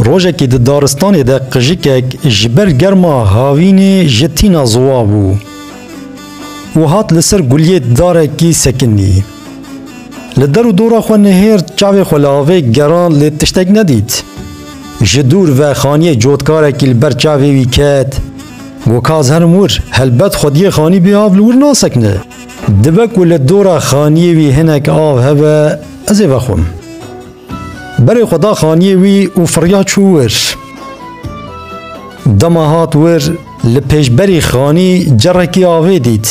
Rojekê di daristanê de qijikek ji ber germa havînê ji tîna ziwa bû û hat li ser guliyê darekî sekinî. Li der û dora xwe nihêr çavê xwe li avê gerand lê tiştek nedît. Ji dûr ve xaniyê cotkarekî li ber çavê wî ket. Got ka ez herim wir, helbet xwediyê xanî bê av li wir nasekine. Dibe ku li dora xaniyê wî hinek av hebe, Ez ê vexwim. Berê xwe da xaniyê wî û firiya çû wir. Dema hat wir, li pêşberî xanî cerekî avê dît.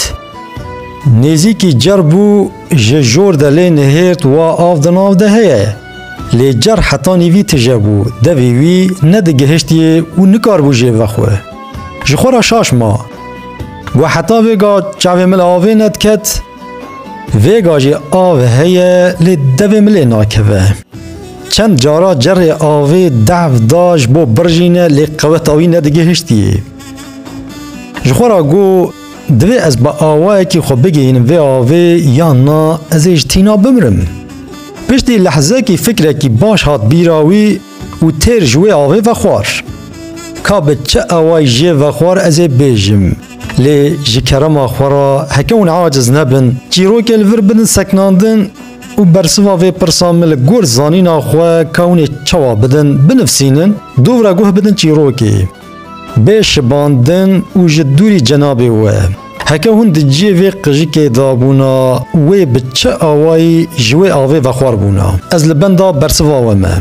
Nêzîkî cer bû, ji jor de lê nihêrt wa av di nav de heye. Lê cer heta nîvî tije bû, devî wî nedigihiştiye û nikaribû jê vexwe. Ji xwe re şaş ma. Got heta vêga çavê min avê nediket. Vêga jî av heye lê devê min lê nakeve. Çend cara cerê avê dev da ji bo birjîne lê qeweta wî nedigihiştiye. Ji xwe ra got divê ez bi awayekî xwe bigihînim vê avê yan na ez ê ji tîna bimirim. Piştî lehzekî fikrekî baş hat bîra wî, Û têr ji wê avê vexwar. Ka bi çi awayî jê vexwar ez ê bêjim. Lê ji kerema xwe re heke hûn aciz nebin, çîrokê li vir bidin seknandin û bersiva vê pirsa min li gor zanîna xwe ka hûn ê çawa bidin, binivsînin, dûvre guh bidin çîrokê. Bê şibandin û ji dûrî cenabê we. Heke hûn di ciyê vê qijikê de bûna, wê bi çi awayî ji wê avê vexwar bûna? Ez li benda bersiva we me.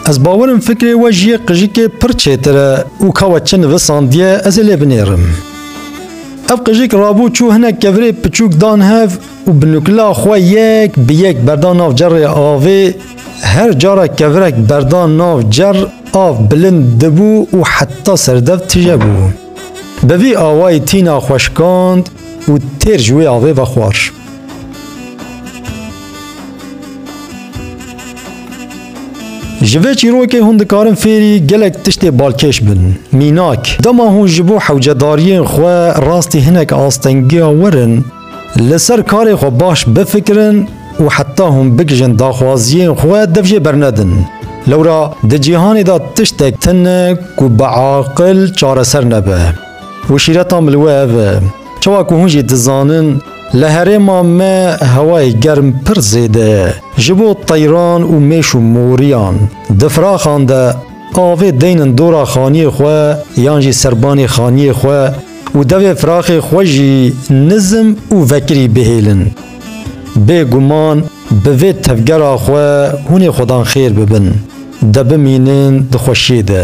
Ez bawer im fikrê we ji yê qijikê pir çêtir e û ka we çi nivisandiye ez ê lê binêrim. Ev qijik rabû çû hinek kevirê piçûk dan hev û bi nukila xwe yek bi yek berdan nav cerrê avê. Her cara kevirek berdan nav cerr av bilind dibû û heta serdev tije bû. Bi vî awayî tîna xwe şikand û têr ji wê avê ve xwar. Ji vê çîrokê hûn dikarin fêrî gelek tiştê balkêş bin. Mînak, dema hûn ji bo hewcedariyên xwe rastî hinek astengiya wir in, li ser karê xwe baş bifikirin û heta hûn bigihîjin daxwaziyên xwe dev jê bernedin. Lewra di cîhanê de tiştek tune ku bi aqil çareser nebe û şîretan li we ev e. Çawa ku hûn jî dizanin, Li herêma me hewayê germ pir zêde ye. Ji bo teyran û mêş û moriyan di firaxan de avê deynin dora xaniyê xwe yan jî serbanê xaniyê xwe û devê firaxê xwe jî nizm û vekirî bihêlin. Bê guman bi vê tevgera xwe hûnê xwedan xêr bibin, de bimînin di xweşiyê de.